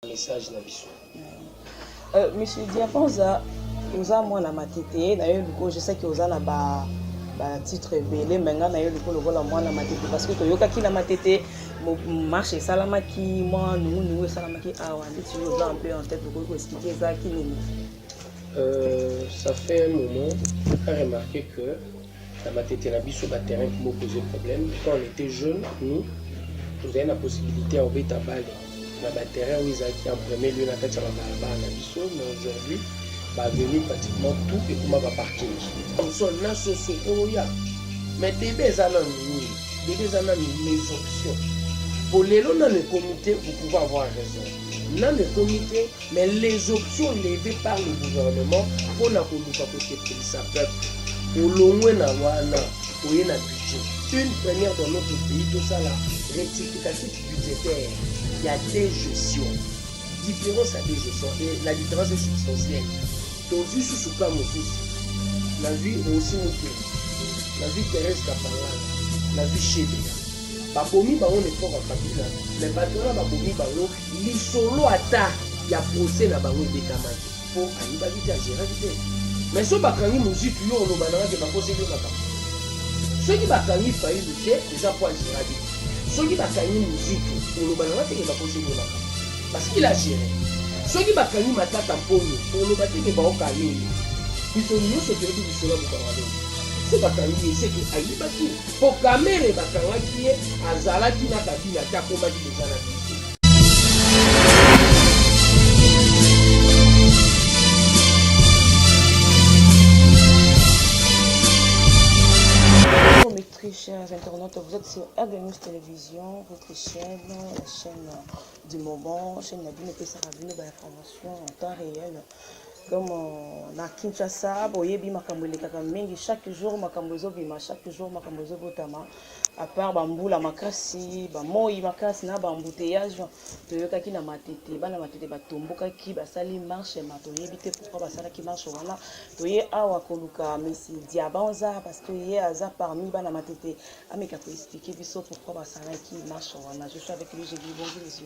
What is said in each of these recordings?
message na biso euh, monsieur diaponza oza mwana matete na yo likoyo je sais que oza na ba batitre ebele me ngai na yo likoyo lokola mwana matete parce que toyokaki na matete marche esalamaki mwa nungunungu esalamaki awa nde toujours oza un peu en tête okoki koexplike ezalaki nini euh, ça fait un moment a remarqué que Na matete na biso ba terrains ki bo poser problème quand on etait jeune nous tozali na possibilité ya kobeta balle na ba terrains oyo ezalaki en premier lieu na kati ya ba balabala na biso mais aujourd'hui ba avenue pratiquement tout ekoma ba parking sol na soso oya mais debe eza na nini debe eza na mes options po lelo nanu ekomi te vous pouvez avoir raison nanu ekomi te Mais les options levee par le gouvernement mpo na koluka kosepelisa peuple olongwe na wana oye na budget une première dans notre pays tosala rectificatif budgétaire ya deux gestion différence ya deux gestion et la différence est substantielle tozwi susu ka mosusu nazwi rosi mokeli nazwi therese kapangana nazwi shebela babomi bango na effort ya kabila mais bato wana babomi bango Lisolo ata ya procès na bango ebetamaki mpo ayebaki te, ageraki te. Mais soki bakangi Muzitu, yo oloba nanga ke bakoseli yo makambo. Soki bakangi Fayulu te, eza mpo ageraki te. Soki bakangi Muzitu, oloba nanga te ke bakoseli yo makambo. Parce qu'il a géré. Soki bakangi Matata Mponyo, oloba te ke baokanga ye. Biso nyonso toyebi lisolo ya Mokanga Lombe. Soki bakangi ye, seke ayibaki. Mpo Kamerhe bakangaki ye, azalaki na Kabila te, akomaki chers internautes, vous êtes sur News Télévision, votre chaîne, la chaîne du moment, chaîne Nabino Pessarabino, bah, information en temps réel. Comme euh, na Kinshasa, boyebi makambo elekaka mingi chaque jour makambo ezobima chaque jour makambo ezobotama apart bambula makasi bamoi makasi na bambouteillage toyokaki na matete bana matete batombokaki basali marche ma toyebi te pourkui basalaki marche wana toye awa koluka mesi diabanza parce que ye aza parmi bana matete ameka koexplike biso pourkui basalaki marche wana je suis avec lui je dis bonjour monsieur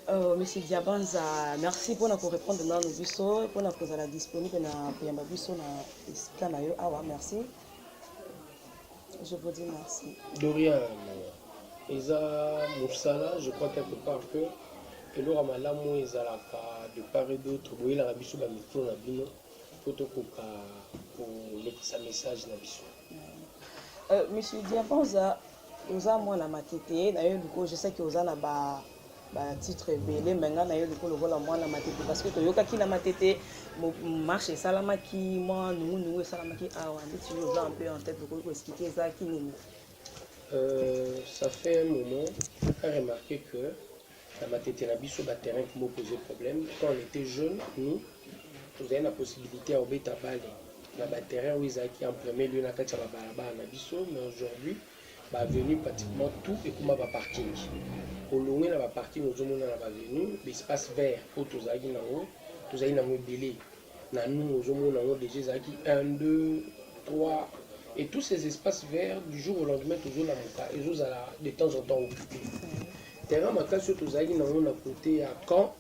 Euh, monsieur Diabanza, merci pour nous répondre dans nos bisous, pour nous la disponible na koyamba biso na esika na yo awa, merci. je vous dis merci de rien eza mosala je crois quelque part que eloko ya malamu oyo ezalaka de part et d'autre boyelaka biso bamikro na bino mpo tokoka kolekisa message na biso euh, monsieur diabanza oza mwana matete nayebi ko je sais ke oza na ba ba titre ebele me ngai nayo liko lokola mwana matete parce que toyokaki na matete marche esalamaki mwa nungunungu esalamaki awa nde tilo oza un peu en tête okoki koexplike ezalaki nini Euh, ça fait un moment, a remarqué que la matete na biso, le terrain qui m'a posé problème, quand on était jeune, nous, on avait la possibilité à obéter à balle. Na ba terrain où ils acquis en premier lieu na katia ba balabala na biso, mais aujourd'hui, ba avenue pratiquement tout ekoma ba parking olongwe na ba parking ozomona na ba avenue ba espace vert oyo tozalaki nango tozali nango ebele na nungu ozomona yango deja ezalaki 1 2 3 et tous ces espaces verts du jour au lendemain tozolamuka ezozala de temps en temps occupé terrain makasi oyo tozalaki nango na kote ya camp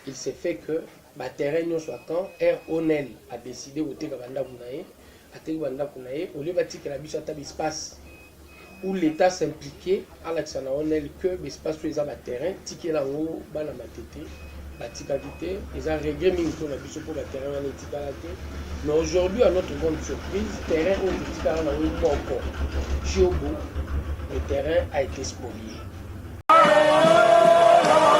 Il se fait que ba terrain nionso ya camp RONEL a decide koteka ba ndako na ye, ateki ba ndako na ye au lieu batikela biso ata ba espace où l'Etat s'impliquer alakisa na ONEL que ba espace oyo eza ba terrain tikela yango bana Matete batikaki te, eza regret mingi mpo na biso mpo ba terrain wana etikala te. Mais aujourd'hui à notre grande surprise, terrain oyo totikala na yango moko Tshiobo, le terrain a été spolié.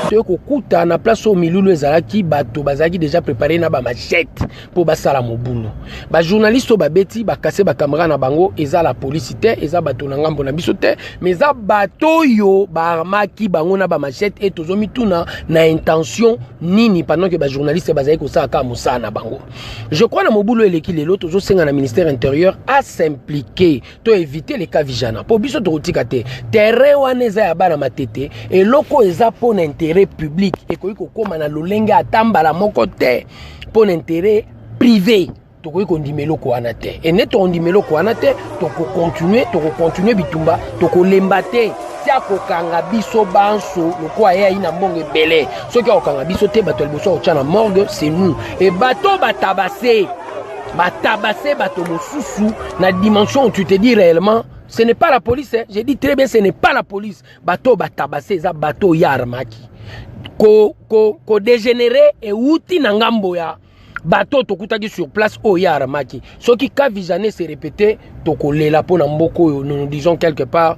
toye kokuta na place oyo milulu ezalaki bato bazalaki déjà prépare na bamachete mpo basala mobulu bajournaliste oyo babeti bakase bakamera na bango eza la polisi te eza bato na ngambo na biso te mais eza bato oyo baarmaki bango na bamachete e tozomituna na intention nini pendant ke bajournaliste bazali kosala kaka mosala na bango je crois na mobulu eleki lelo tozosenga na ministère intérieur asimplike to éviter les cas vijana mpo biso tokotika te terrain wana eza ya bana matete eloko eza mpo na intérêt public ekoki kokóma na lolenge ata mbala moko te mpo na intérêt privé tokoki kondima eloko wana te ene tokondima eloko wana te tokokontinue tokokontinue bitumba tokolemba te ti akokanga biso banso lokola ye ayi na mbongo ebele soki akokanga biso te bato ya liboso akotya na morgue c'est nous e bato batabase Ba tabasser bato mosusu na dimension où tu te dis réellement ce n'est pas la police hein. j'ai dit très bien ce n'est pas la police bato ba tabasser eza bato ya armaki ko ko ko dégénérer euti na ngambo ya bato tokutaki sur place oyo ye aramaki soki ka visane se répété tokolela mpo na mboka oyo nous nous disons quelque part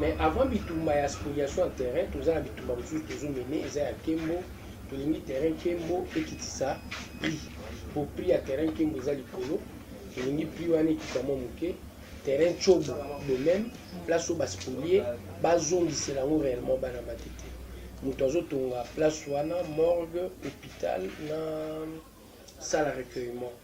mais avant bitumba ya spoliation ya terrain toza na bitumba mosusu tozomene eza ya kembo tolingi terrain kembo ekitisa prix po prix ya terrain kembo eza likolo tolingi prix wana ekita mwa moke terrain cobo de même place oyo baspolie bazongisela yango réellement bana matete moto azotonga place wana morgue hôpital na sala recueillement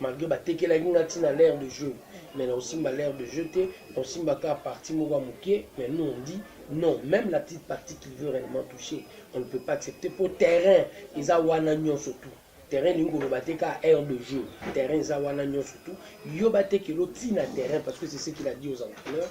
Malgre ba tekelaki nga ti na l'aire de jeu mais nako simba l'aire de jeu te, nako simba kaka partie moko ya mukie mais nous on dit non meme la petite partie qu'il veut reellement toucher on ne peut pas accepter po terrain eza wana nionso tout terrain elingi koloba te kaka aire de jeu terrain eza wana nionso tout yo batekela otina terrain parce que c'est ce qu'il a dit aux entraîneurs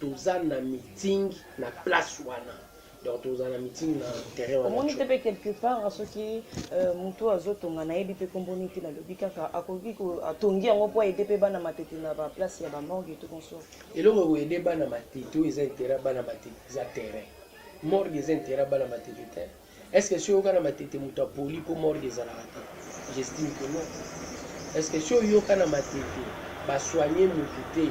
Toza na meeting na place wana. Donc tokozala na meeting na terrain wana. Omoni te pe quelque part soki euh, mutu oyo azotonga nayebi pe kombo nini te nalobi kaka akoki atongi yango mpo aide pe bana matete na ba place ya ba morgue to konso. Eloko ekoyede bana matete oyo eza intérêt bana matete eza terrain. Morgue eza intérêt bana matete te. Est ce que si oyoka na matete moto apoli po morgue ezalaka te? J'estime que non. Est ce que si oyoka na matete ba soigner moto te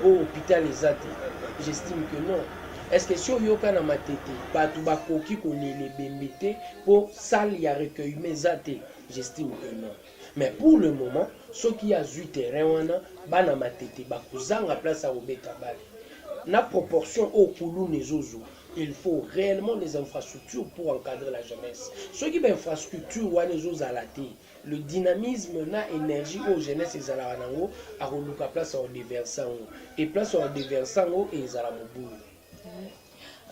po hopital eza te? J'estime que non. Est ce que si oyoka na matete bato bakoki kolela ebembe te po salle ya recueillement eza te? J'estime que non. Mais pour le moment soki ye azui terrain wana bana matete bakozanga place ya kobeta balle na proportion oyo kuluna ezozua. il faut réellement des infrastructures pour encadrer la jeunesse soki bainfrastructure wana ezozala te le dynamisme na énergie oyo jeunesse ezalaka nango akoluka place ya odeverse yango e place ya odeverse yango ezala mobulu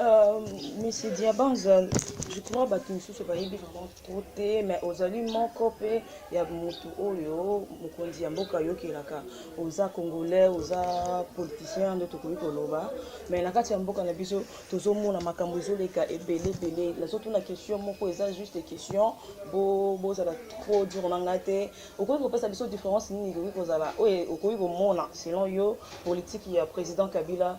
euh, monsieur diabanza je crois bato mosusu bayebi vraiment trop te mais ozali moko pe ya mutu oyo mokonzi ya mboka ayokelaka oza congolais oza politicien nde tokoki koloba mais na kati ya mboka na biso tozomona makambo ezoleka ebele ebele nazotuna question moko eza juste question bozala bo trop dur na ngai te okoki kopesa biso différence nini ekoki kozala oyo okoki komona selon yo politiki ya président kabila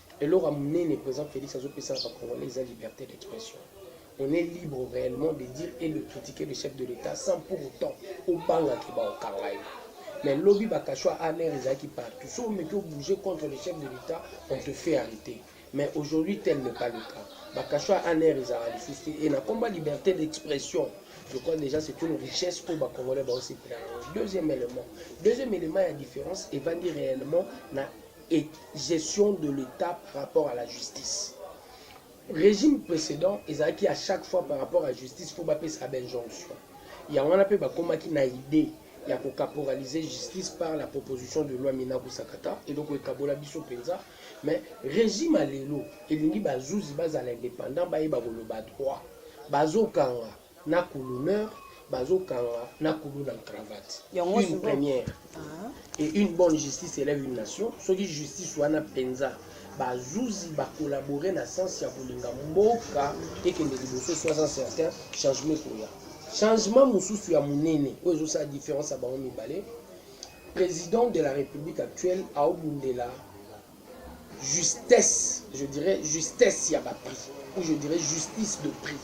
Eloko ya munene president Felix azo pesa na ba congolais eza liberté d'expression. On est libre réellement de dire et de critiquer le chef de l'État sans pour autant obanga ke ba okanga ye. Mais lobi ba kashwa a l'air ezalaki partout. So omeki obouger contre le chef de l'État, on te fait arrêter. Mais aujourd'hui tel n'est pas le cas. Ba kashwa a l'air ezalaka lisusu te. Et na komba liberté d'expression. Je crois déjà c'est une richesse oyo ba congolais ba osepela yango. Deuxième élément. Deuxième élément ya différence evandi réellement na et gestion de l'etat par rapport à la justice regime precedent ezalaki à chaque fois par rapport à justice faut bapesa ba injonction ya wana mpe bakomaki na idée ya kocaporaliser justice par la proposition de loi mina kusakata eloko ekabola biso mpenza mais regime ya lelo elingi bazuzi bazala indépendant bayeba koloba droit bazokanga na kuluneur bazo kanga na kulu na cravate une première ah. et une bonne justice élève une nation soki justice wana penza bazuzi bacollabore na sens ya kolinga mboka ekende liboso sois en certain changement ekoya changement mosusu ya monene oyo ezosala différence ya bango mibale président de la république actuelle aobundela Justesse, je dirais justesse ya ba prix ou je dirais justice de prix.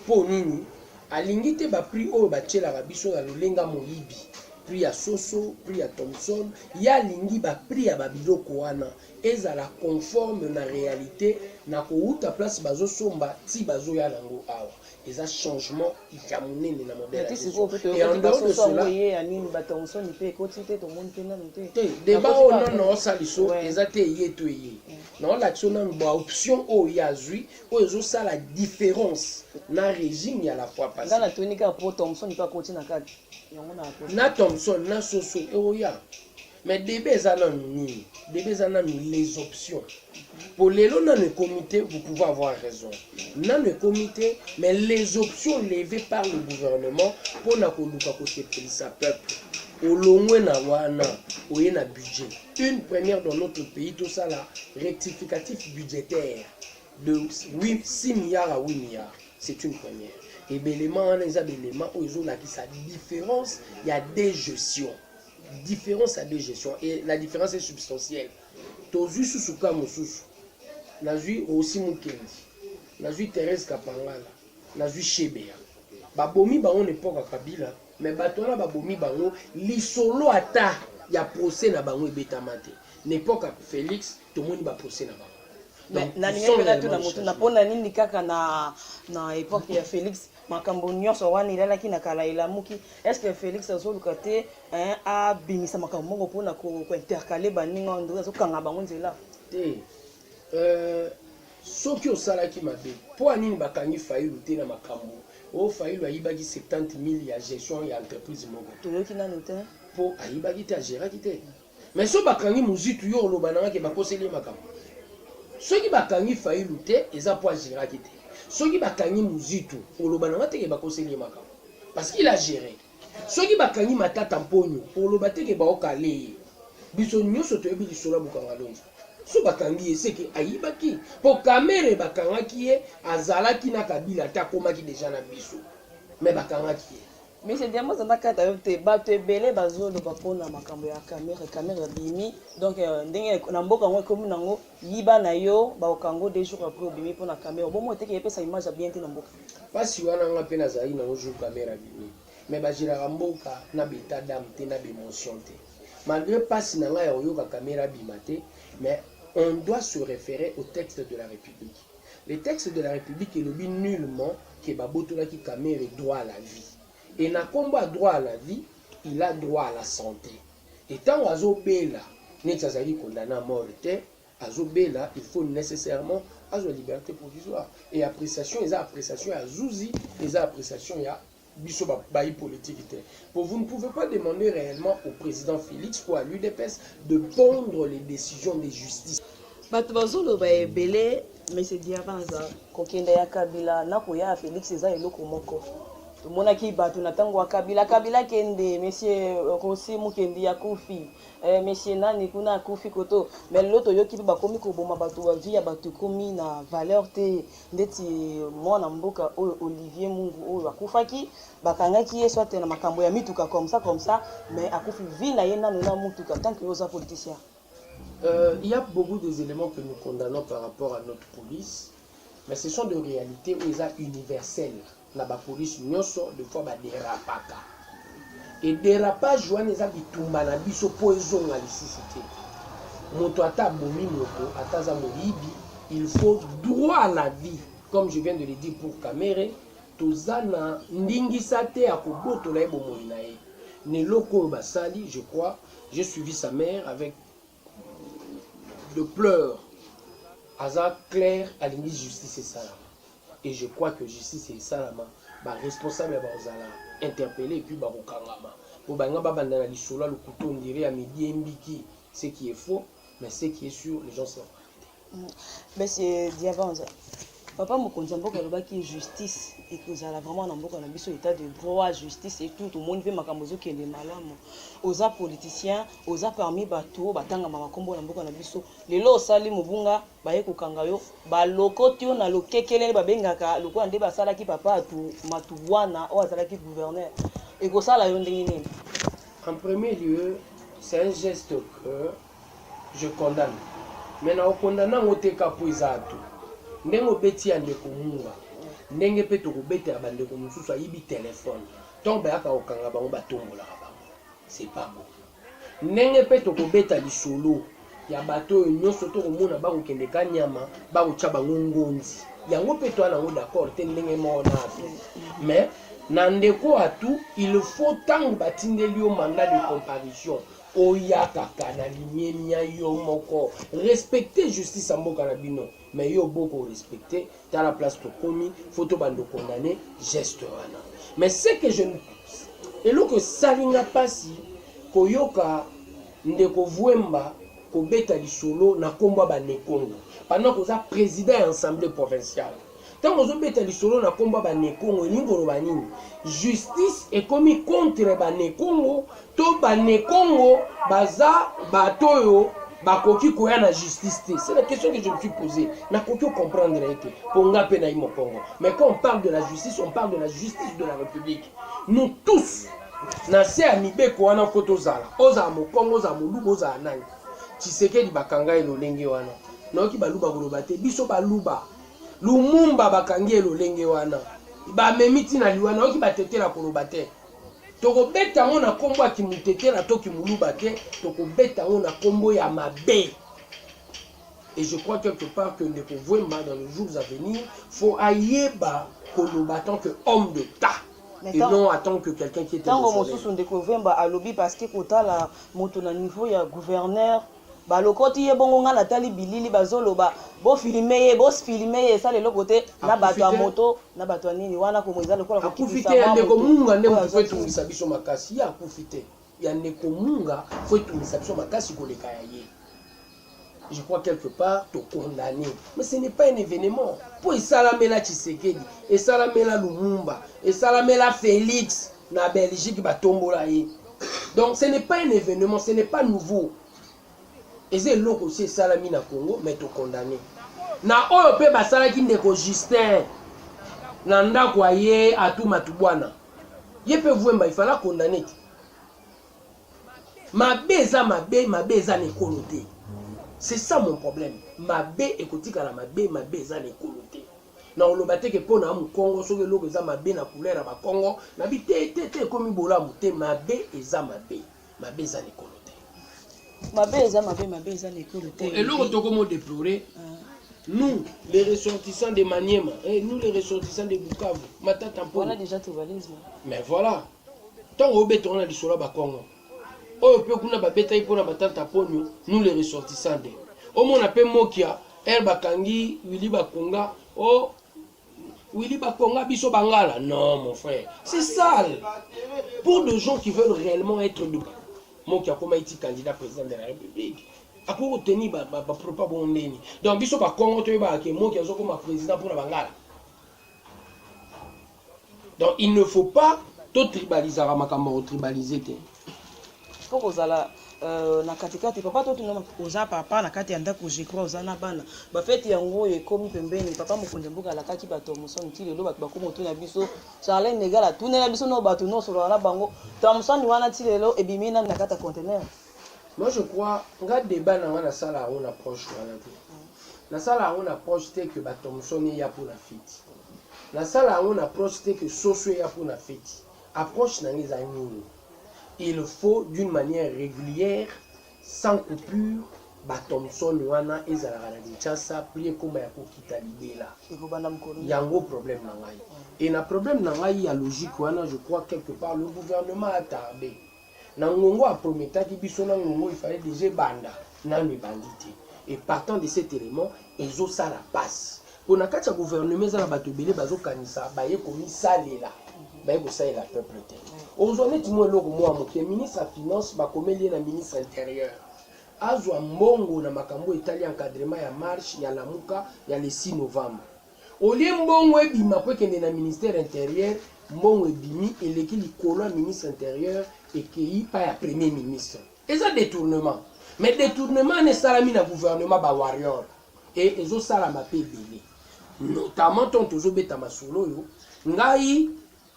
Mpo nini alingi te ba prix oyo batyelaka biso ya lolenga moyibi prix ya soso prix ya thomson ye alingi ba prix ya babiloko wana ezala conforme na realite na kowuta place bazosomba ti bazoya nango awa eza changement ya monene na modèle et en dehors de cela te débat oyo oh, nono osaliso eza te eye to eye naolakisa yo nanu baoption oyo oh, ye azwi oyo oh, ezosala différence na régime ya la fois passé na thomson na soso eoya Mais debat eza nanu nini? Debat eza nanu les options. Po lelo nanu ekomi te, vous pouvez avoir raison. Nanu ekomi te, mais les options levées par le gouvernement mpo na koluka kosepelisa peuple. Olongwe na wana, oye na budget. Une première dans notre pays, tosala rectificatif budgétaire de 8, 6 milliards à 8 milliards. C'est une première. Et belema wana eza belema oyo ezolakisa différence ya deux gestions. Difference ya deux gestion et la difference est substantielle. Tozwi susu ka mosusu. Nazwi Rosi Mukendi. Nazwi Therese Kapangala. Nazwi Shebeya. Babomi bango na epoka Kabila, mais bato wana babomi bango lisolo ata ya procès na bango ebetama te. Na epoka Felix tomoni ba procès na bango. Donc, na ils sont lingaki na tuna réellement moto na changés. mpona nini kaka na na epoque ya felix makambo nyonso wana elalaki na kala elamuki estce félix azoluka te abimisa makambo moko mpona kointercale baninga wana ndoki azokanga bango nzela te euh, soki osalaki mabe mpo anini bakangi failu te na makambo o oh, failu ayibaki 70 000 ya gestion ya entreprise moko toyoki nano te mpo ayibaki te ageraki te mm. Mais so bakangi muzitu yo oloba nanga ke bakoseli ye makambo soki bakangi fayilu te eza po ageraki te soki bakangi muzitu oloba nanga te ke bakoseli ye makambo parce qu'il a gere soki bakangi matata mponyo oloba te ke baokale ye biso nyonso toyebi lisolo ya bukangalonji so bakangi ye seke ayibaki po kamere bakangaki ye azalaki na kabila te akomaki deja na biso me bakangaki ye Monsieur Diamba aza nakata yo te bato ebele bazoloba mpona makambo ya kamere kamere abimi donc euh, ndenge na mboka yango ekomi nango yiba na yo baokango deux jours après obimi mpona kamere obomo oteke epesa image ya bien te na mboka mpasi wana nga mpe nazali nango jour kamere abimi mais bageraka mboka na beta dame te na bemotion te malgré mpasi na ngai ya koyoka kamere abima te mais on doit se référer au texte de la république Le texte de la republique elobi nullement que ba botolaki Kamerhe droit à la vie. Et na kombo ya droit à la vie, il a droit à la sante. Et tango azo bela, neti azalaki condamne à mort te, azo bela, il faut necessairement azwa liberte provisoire. Et appreciation eza appreciation ya zuzi, eza appreciation ya biso ba bayi politique te po vous ne pouvez pas demander réellement au président Félix ou à l'UDPS de pondre les décisions des justices bato bazoloba ebele mese diabanza kokenda ya kabila na koya ya félix eza eloko moko tomonaki bato na ntango ya kabila kabila kende monsieur euh, rosi mukendi ya kufi eh, monsieur nani kuna akufi koto me lelo toyoki mpe bakomi koboma bato bavi ya bato ekomi na valeur te ndeti mwana mboka oyo Olivier Mungu oyo akufaki bakangaki ye soit na makambo ya mituka comme ça comme ça mais akufi vie na ye nanu na mutuka tant que oza politicien Euh, il y a beaucoup des éléments que nous condamnons par rapport à notre police, mais ce sont des réalités où ils sont universels. na ba police nioso de fois ba derapaka et derapage wana eza bitumba na biso po ezonga lisusu te moto ata abomi moto ata aza moyibi il faut droit à la vie comme je viens de le dire pour kamere toza na ndingisa te ya kobotola ye bomoi na ye na eloko oyo basali je crois j'ai suivi sa mère avec Le pleure aza clair alingi justice esalama et je crois que justice esalama ba responsable bakozala interpelle epuis bakokangama po balinga babanda na lisolo ya lokuta ondire ya midiembiki ce qui est faux mais ce qui est sur les gens se reprennent te Monsieur Diabanza, papa mokonzi ya mboka alobaki justice ekozala vraiment na mboka na biso état de droit justice et tout tomoni mpe makambo ezokende malamu oza politicien oza parmi bato oyo batangama makombo na mboka na biso lelo osali mobunga baye kokanga yo balokoti yo na lokekelele babengaka lokola nde basalaki papa atu matuwana oyo azalaki gouverneur ekosala yo ndenge nini en premier lieu c'est un geste que Je condamne mais nako condamne yango te kaka po eza atu ndenge obeti ya ndeko mura ndenge pe toko beta ya ba ndeko mususu ayibi telephone tango bayaka ko kanga bango ba tombolaka bango c'est pas bon ndenge pe toko beta lisolo ya bato oyo nyoso toko mona bako kende ka nyama bako tia bango ngonzi yango pe toa nango d'accord te ndenge moko na atu mais na ndeko atu il faut tango batindeli yo mandat de comparution Oyakaka na limemia yo moko respecte justice ya mboka na bino mais yo oboyi ko respecte tala place tokomi faut tobanda okondane geste wana mais ce que je eloko esali nga mpasi koyoka ndeko vuemba kobeta lisolo na nkombo ya banekongo pendant koza president ya assemblée provinciale Tango ozo beta lisolo na kombo ya ba Nekongo elingi koloba nini? Justice ekomi contre ba Nekongo to ba Nekongo baza bato oyo bakoki koya na justice te? C'est la question que je me suis posee. Nakoki ko comprendre ye te po nga pe nayi Mokongo. Mais quand on parle de la justice, on parle de la justice de la Republique. Nous tous na se ya mibeko wana ko tozala, ozala Mokongo, ozala Moluba, ozala nani. Tshisekedi bakanga ye lolenge wana. Nayoki Baluba koloba te, biso Baluba. Lumumba bakangi ye lolenge wana ba memi ti na liwa nayoki ba tetela koloba te toko beta ngo na kombo ya kimutetela to kimuluba te toko beta ngo na kombo ya mabe et je crois quelque part que ndeko Vuemba dans les jours à venir faut ayeba koloba tant que homme de ta et non à tant que quelqu'un qui est tango mosusu ndeko Vuemba alobi parce que kotala moto na niveau ya gouverneur Balokoti ye bongo nga natali bilili bazoloba bo filme ye bo filme ye esala eloko te na bato ya moto na bato ya nini wana komo eza lokola akufi te ya ndeko munga nde moto fo etungisa biso makasi ye akufi te ya ndeko munga fo etungisa biso makasi koleka ya ye je crois quelque part to condamné mais ce n'est pas un événement mpo esalamela tshisekedi esalamela lumumba esalamela félix na belgique batombola ye Donc ce n'est pas un evenement, ce n'est pas nouveau. Eza eloko osi esalami na Congo, mais to condamne. Na oyo pe basalaki ndeko Justin na ndako aye Atu Matubwana. Ye pe Vuemba il fallait condamner te. Mabe eza mabe, mabe eza na ekolo te. C'est ça mon problème. Mabe ekotikala mabe, mabe eza na ekolo te. Nakoloba te ke pona mukongo soki eloko eza mabe na couleur ya ba kongo nabi te te te ekomi bolamu te mabe eza mabe mabe eza na ekolo te mabe eza mabe mabe eza na ekolo te eloko tokomo deplore nous les ressortissants de Maniema eh, nous les ressortissants de Bukavu matata mpo voilà déjà tribalisme mais voilà ntango obetaka na lisolo ya bakongo oyo pe kuna babetaki pona ba tanta ponyo nous les ressortissants de omona pe mokia heure bakangi Willy Bakonga oh Willy Bakonga biso bangala non mon frère c'est sale pour des gens qui veulent réellement être de mokia koma iti candidat président de la république akoki koteni bapropa bongo ndeni donc biso bakongo toyebaka ke moki azokoma président mpona bangala Donc il ne faut pas to tribalisaka makambo ya ko tribaliser te. Faut kozala Euh, na katikati papa totuna oza papa na kati ya ndako je crois oza na bana bafeti yango oyo ekomi pembeni papa mokonzi ya mboka alakaki bato ya mosani ti lelo bato bakomi otuna biso charlin negal atunela biso no bato nyonso olaka na bango to ya mosani wana ti lelo ebimi nani na kati ya contener Moi je crois nga debat na nga na sala yango na proche wana te. Na sala yango na proche te que ba Thomson eya pour na fete. Na sala yango na proche te que soso eya pour na fete. Approche na nga eza nini? Il faut d'une manière régulière sans coupure ba Thomson wana ezalaka na Kinshasa puis ekoma ya kokita libela. Ekobanda mokolo. Yango problème na ngai. Et na problème na ngai ya logique wana je crois quelque part le gouvernement a tardé. na ngongo a prometaki biso na ngongo il fallait deja ebanda nanu ebandi te et partant de cet élément ezosala pasi mpo na kati ya gouvernement eza na bato ebele bazokanisa baye komisalela baye kosalela peuple te ozwa neti mwa eloko mwa moke ministre ya finance bakomeli ye na ministre intérieur azwa mbongo na makambo etali encadrement ya marche ya lamuka ya le 6 novembre Au lieu mbongo ebima po ekende na ministère interieur, mbongo ebimi eleki likolo ya ministre interieur ekeyi epai ya premier ministre. Eza detournement. Mais detournement wana esalami na gouvernement ba warrior et ezo salama pe ebele. Notamment tango tozo beta masolo oyo, ngai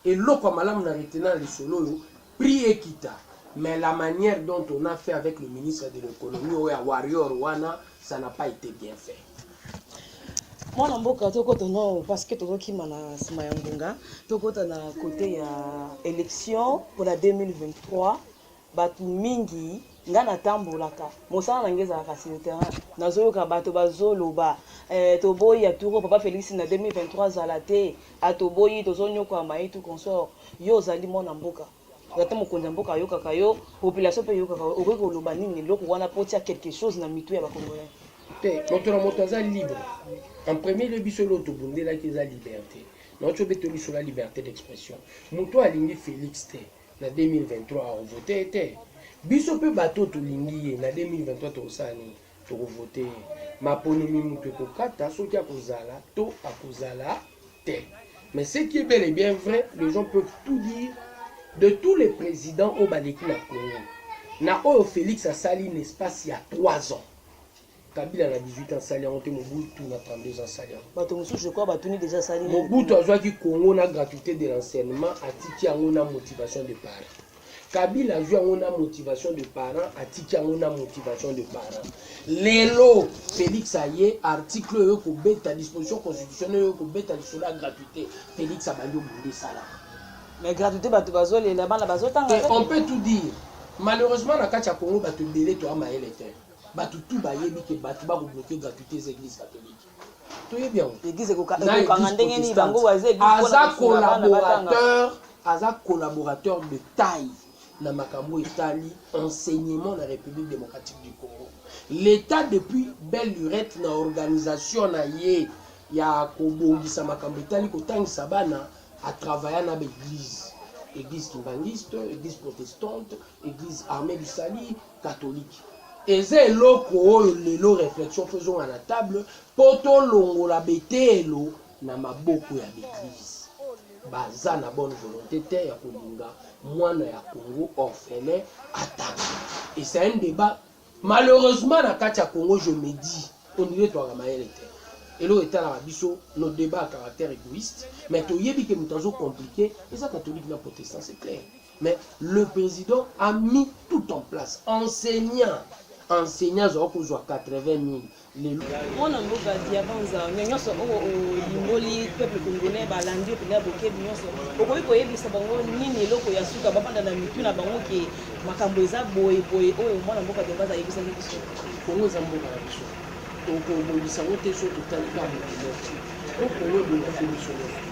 Eloko ya malamu na retenant na lisolo oyo, prix ekita mais la maniere dont on a fait avec le ministre de l'economie oyo ya warrior wana ça n'a pas ete bien fait. Mwana mboka tokota nao parce que tozokima na nsima ya ngonga tokota na cote ya election mpona 2023 Batu mingi nga na tambolaka mosala na nga ezalaka sur le terrain nazo yoka bato bazo loba eh toboyi ya turo papa Felix na 2023 azala te ah toboyi tozo niokwama et tout consort yo ozali mwana mboka ata mokonzi ya mboka ayokaka yo population pe eyokaka yo okoki koloba nini eloko wana po tia quelque chose na mitu ya ba congolais te moto na moto aza libre en premier lieu biso leo tobundelaki eza liberté naocobe tolisola liberté d'expression moto alingi Felix te Na 2023 ako vote ye te. Biso pe batu oyo tolingi ye na 2023 tokosala nini? Toko vote ye. Maponomi mutu ekokata soki akozala to akozala te. Mais ce qui est bel et bien vrai, les gens peuvent tout dire de tous les presidents oyo baleki na Congo, na oyo Felix asali n'espace ya trois ans, Kabila na 18 ans sali yango te Mobutu na 32 ans sali yango. Bato mosusu je crois batuni déjà sali. Mobutu azwaki Congo na gratuité de l'enseignement atiki yango na motivation de parents. Kabila azwi yango na motivation de parents atiki yango na motivation de parents. Lelo Felix aye article oyo kobeta disposition constitutionnelle oyo kobeta lisolo ya gratuité Felix abandi obunda esala. Mais gratuité bato bazolela bana bazotanga. On peut tout dire. Malheureusement na kati ya Congo bato ebele toya mayele te. Batu tout bayebi ke batu bako bloquer gratuité eza église catholique. Toyebi yango. Église ekokanga ndenge nini bango baza église pona aza collaborateur aza collaborateur de taille na makambo etali enseignement na République démocratique du Congo. L'État depuis belle lurette na organisation na ye ya kobongisa makambo etali kotangisa bana à travailler na ba église église kimbanguiste église protestante église armée du salut catholique eza eloko oyo lelo reflexion faut ezonga na table po tolongola beteyelo na maboko ya b'eglise baza na bonne volonte te ya kolinga mwana ya Congo orphelin atanga et c'est un debat malheureusement na kati ya Congo je me dis on dirait toaka mayele te eloko etalaka biso nos debats à caractère egoïste mais toyebi ke moto azo complique eza catholique na protestant c'est clair Mais le president a mis tout en place. Enseignant, enseignant aza kozwa 80000 lelo. Mwana mboka Diabanza, mais nyonso oyo olimboli peuple congolais balandi yo mpenza bokebi nyonso. Okoki koyebisa bango nini eloko ya suka bafanda na mitu na bango ke makambo eza boye boye oyo mwana mboka Diabanza ayebisaki biso. Kongo eza mboka na biso. Tokobongisa yango te soki totali kaka moto moko. Mpo Congo ebongaki biso nyonso.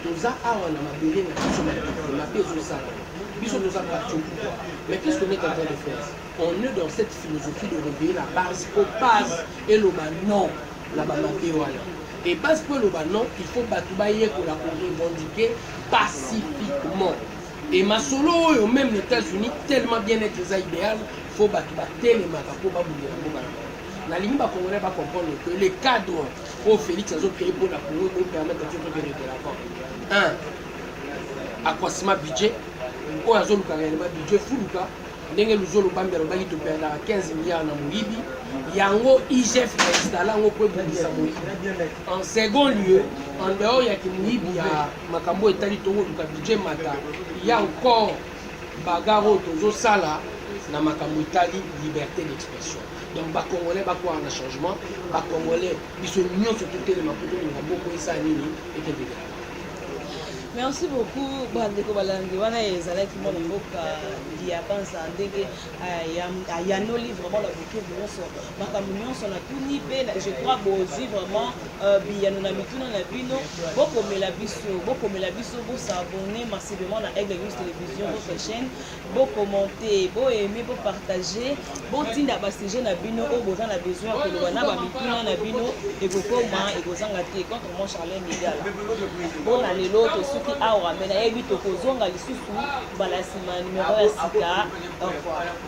Toza awa na mabele na biso na developpement mpe ezosala. Biso toza parti au pouvoir. Mais qu'est-ce qu'on est en train de faire? On est dans cette philosophie de réveiller la base mpo base eloba non na ba mabe wana. Et base mpo eloba non, il faut bato bayekola ko revendiquer pacifiquement. Et masolo oyo même na États-Unis tellement bien être eza idéal faut bato batelemaka mpo babundela mboka na bango nalingi bacongolais bacomprendre que le cadre oyo félix azocreye mpo na congo ekopermettre biso tokende de l'avant un accroissement budget oyo azolukaka elema budget fuluka ndenge luzolobambi alobaki toperdaka 15 milliard na moyibi yango igf bainstalla yango mpo ebundisa moyibi en second lieu en dehors ya kimoyibi ya makambo etali tokoluka budget mata ya encore bagarre oyo tozosala na makambo etali liberté d'expression donc bacongolais bakwaka na changement bacongolais biso nyonso totelema mpo tolinga boko esala nini ekebelela merci beaucoup bandeko balandi wana ezalaki mwana mboka diabansa ndenge euh, ayanoli vraiment na boke nyonso makambo nyonso natuni mpe je crois bozwi vraiment Euh, biyano na mituna na bino bokomela biso bokomela biso bosabone massivement na aigle news télévision votre chaîne bokommente boaime bopartage botinda basujet na bino oyo boza na besoin ya koloba na bamituna na bino ekokoma ekozanga te contre mon charlin migal mpo na lelo tosuki awa me nayebi tokozonga lisusu mbala nsima numero ya sika au revoir